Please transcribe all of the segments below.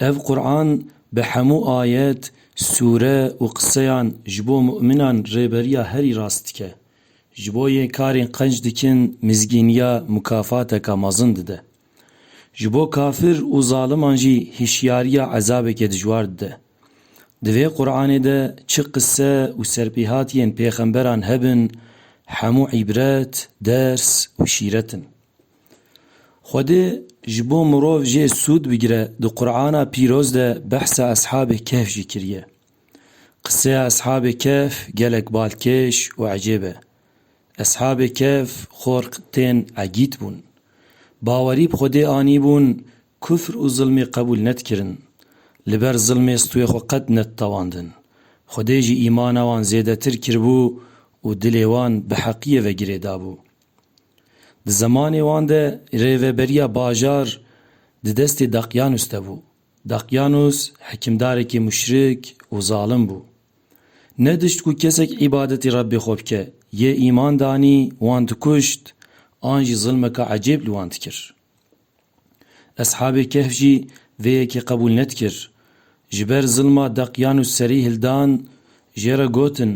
Ev Quran bi hemû ayet, sûre û qiseyan ji bo mu'minan rêberiya herî rast dike. Ji bo yên karên qenc dikin mizgîniya mûkafateke mezin dide. Ji bo kafir û zaliman jî hişyariya ezabeke dijwar dide. Di vê Quranê de çi qise û serpêhatiyên pêxemberan hebin hemû îbret, ders û şîret in. Xwedê ji bo mirov jê sûd bigire di Qur'ana pîroz de behsa Eshabê Kehf jî kiriye. Qiseya Eshabê Kehf gelek balkêş û ecêb e. Eshabê Kehf xork tên egît bûn. Bawerî bi Xwedê anîbûn, kufr û zilmê qebûl nedkirin. Li ber zilmê stûyê xwe qet neditewandin. Xwedê jî îmana wan zêdetir kiribû û dilê wan bi heqiyê ve girê dabû. Di zemanê wan de rêveberiya bajar di destê Daqiyanus de bû. Daqiyanus hikimdarekî muşrik û zalim bû. Nedişt ku kesek îbadetê Rebbê xwe bike, yê îman danî wan dikuşt an jî zilmeke ecêb li wan dikir. Eshabê Kehf jî vê yekê qebûl nedikir. Ji ber zilma deqiyan û serî hildan jê re gotin,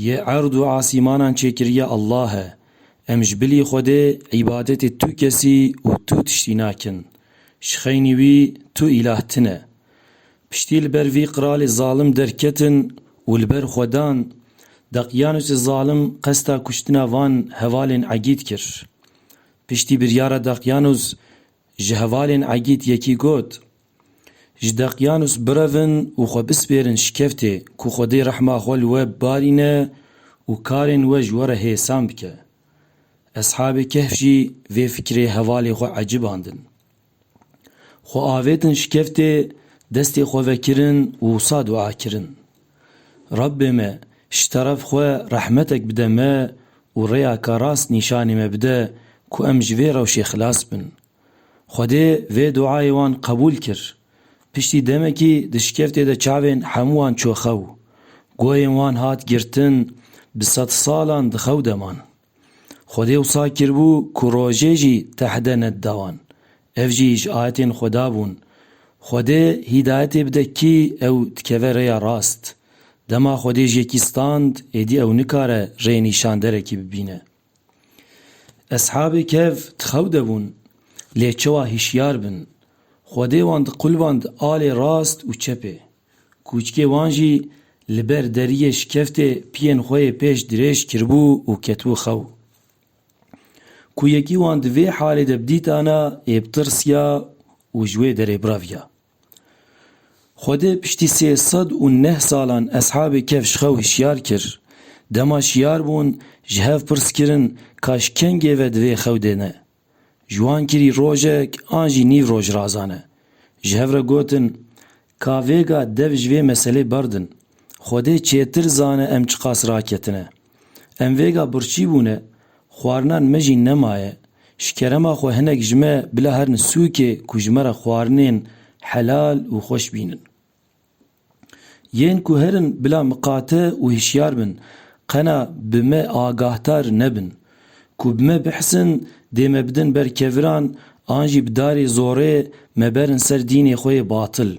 Yê erd û asîmanan çêkiriye Allah e. Em ji bilî Xwedê îbadetê tu kesî û tu tiştî nakin. Ji xeynî wî tu îlah tune. Piştî li ber vî qiralê zalim derketin û li ber xwe dan. Deqyanûsê zalim qesta kuştina van hevalên egîd kir. Piştî biryara Deqyanûs ji hevalên Egîd yekî got, Ji Deqyanûs birevin û xwe bispêrin şikeftê ku Xwedê rehma xwe li we bibarîne û karên we ji we re hêsan bike. Eshabê Kehf jî vê fikirê hevalê xwe ecibandin. Xwe avêtin şikeftê destê xwe vekirin û wisa dua kirin, Rabbê me ji teref xwe rehmetek bide me û rêyaka rast nîşanê me bide ku em ji vê rewşê xilas bin. Xwedê vê duayê wan qebûl kir. Piştî demekî di şikeftê de çavên hemû wan çû xew. Guhên wan hat girtin, bi sedsalan di xew de man. Xwedê wisa kiribû ku rojê jî tehde nedida wan. Ev jî ji ayetên Xweda bûn. Xwedê hîdayetê bide kî ew dikeve rêya rast. Dema Xwedê ji yekî stand, êdî ew nikare rê nîşanderekî bibîne. Eshabê Kehf di xew de bûn, lê çawa hişyar bin. Xwedê wan diqulband alê rast û çepê. Kûçkê wan jî li ber deriyê şikeftê piyên xwe yê pêş dirêj kiribû û ketibû xew. Ku yekî wan di vê halê de bidîtana yê bitirsiya û ji wê derê biraviya. Xwedê piştî sê sed û neh salan eshabê kef ji xew hişyar kir. Dema şiyar bûn ji hev pirs kirin ka ji kengê ve di vê xew de ne? Ji wan kirî rojek an jî nîv rojrazan e. Ji hev re gotin, Ka vêga dev ji vê meselê berdin. Xwedê çêtir zane em çiqas raketine. Em vêga birçî bûne, xwarinan me jî nemaye. Ji kerema xwe hinek ji me bila herin sûkê ku ji me re xwarinên helal û xweş bînin. Yên ku herin bila miqate û hişyar bin, qena bi me agahtar nebin. Ku bi me bihsin dê me bidin ber keviran an jî bi darê zorê me berin ser dînê xwe yê batil.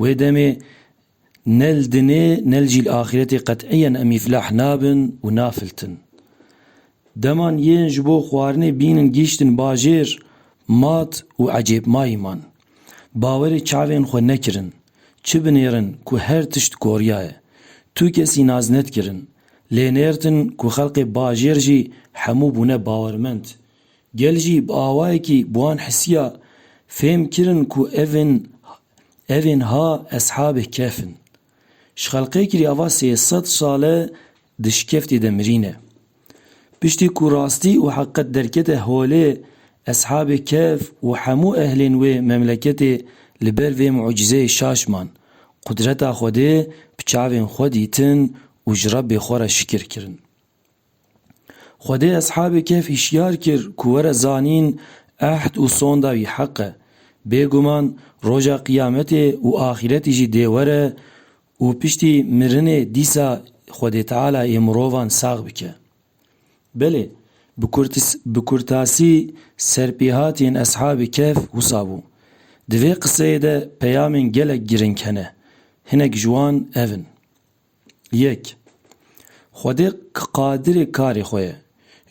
Wê demê ne li dinê ne li jî li axîretê qet'iyen em îflah nabin û nafiltin. Deman yên ji bo xwarinê bînin gihîştin bajêr, mat û ecêbmayî man. Bawerê çavên xwe nekirin. Çi binêrin ku her tişt koryaye. Tu kesî nas nedkirin. Lê nêrtin ku xelkê bajêr jî hemû bûne bawermend. Gel jî bi awayekî bi wan hisiya fêm kirin ku evên evên ha eshabê kehf in. Ji xelkê kirî ava sê sed sal e Di şikeftê de mirîne. Piştî ku rastî û heqet derkete holê, Eshabê Kehf û hemû ehlên wê memleketê li ber vê mucîzeyê şaş man, qudreta Xwedê bi çavên xwe dîtin û ji Rebbê xwe re şikir kirin. Xwedê Eshabê Kehf hişyar kir ku were zanîn ehd û sonda wî heq e. Bêguman roja Qiyametê û axîretî jî dê were Û piştî mirinê dîsa Xwedê Teala ê mirovan sax bike. Belê, bi kurtis bi kurtasî serpêhatiyên Eshabî Kehf wisa bû. Di vê qiseyê de peyamên gelek giring hene. Hinek ji wan ev in. Yek, Xwedê Qadirê karê xwe ye.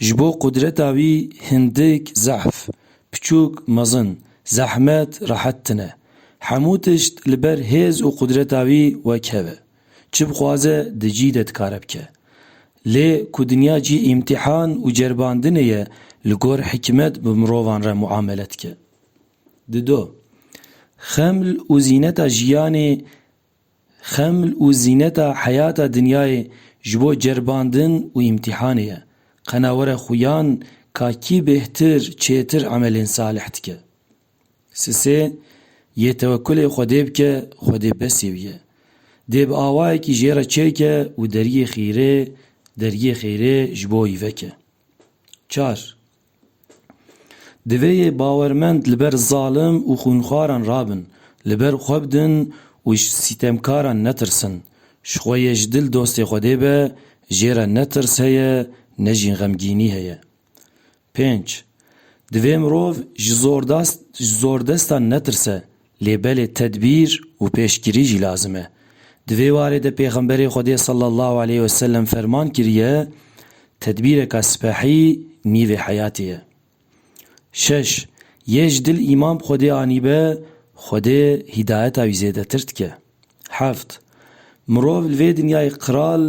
Ji bo qudreta wî hindik zehf, piçûk mezin, zehmet rehet tine. Hemû tişt li ber hêz û qudreta wî wekhev e. Çi bixwaze di cî de dikare bike. Lê ku dinya cî îmtîhan û ceribandinê ye li gor hikimet bi mirovan re muamele dike. Dido. Xeml û zîneta jiyanê Xeml û zîneta heyata dinyayê ji bo ceribandin û îmtîhanê ye. Qena were xuyan ka kî bêhtir, çêtir emelên salih dike. Sisê yê tewekulê Xwedê bike, Xwedê besê wî ye. Dê bi awayekî jê re çêke û deriyê xîrê, deriyê xêrê ji bo wî veke. Çar, Divê yê bawermend li ber zalim û xwînxwaran rabin, li ber xwe bidin û ji sîtemkaran netirsin. Ji xwe yê ji dil dostê Xwedê be, jê re ne tirs heye ne jî xemgînî heye. Pênc, Divê mirov ji zordestan netirse, Lê belê tedbîr û pêşgirî jî lazim e. Di vê warê de Pêxemberê Xwedê sallallahu aleyh ve sellem ferman kiriye, Tedbîreka sipehî nîvê heyatê ye. Şeş, Yê ji dil îmam Xwedê anîbe, Xwedê hîdayeta wî zêdetir dike. Heft, Mirov li vê dinyayê qral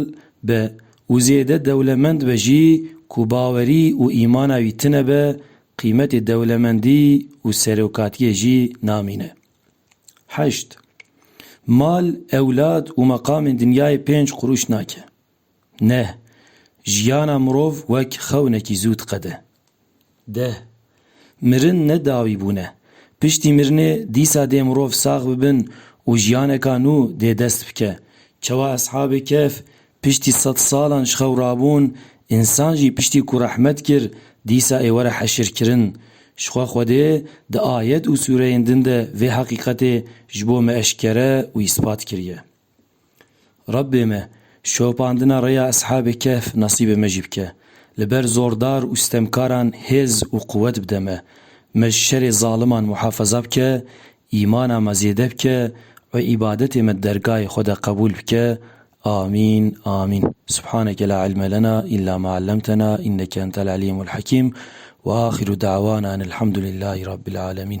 be û zêde dewlemend be jî ku bawerî û îmana wî tine be, qîmetê dewlemendî û serokatiyê jî namîne. Heşt, Mal, ewlad û meqamên dinyayê pênc qurûş nake. Neh, jiyana mirov wek xewnekî zû diqede. Deh, mirin ne dawî bûn e. Piştî mirinê dîsa dê mirov sax bibin û jiyaneka nû dê dest bike. Çawa Eshabê Kehf piştî sed salan ji xew rabûn, însan jî piştî ku rehmet kir dîsa ê were heşirkirin. Jixwe Xwedê di ayet û sûreyên din de vê heqîqetê ji bo me eşkere û îspat kiriye. Rabbê me, şopandina rêya Eshabê Kehf nesîbê me jî bike. Li ber zordar û sitemkaran hêz û quwet bide me. Me ji şerê zaliman muhafeza bike, îmana me zêde bike û îbadetê me di dergahê xwe de qebûl bike. Amîn. Amîn. Subhaneke la ilme lena îlla ma ellemtena înneke entel elîmul hekîm. Ve axiru da'wana enel hamdulillahî rabbil alemin.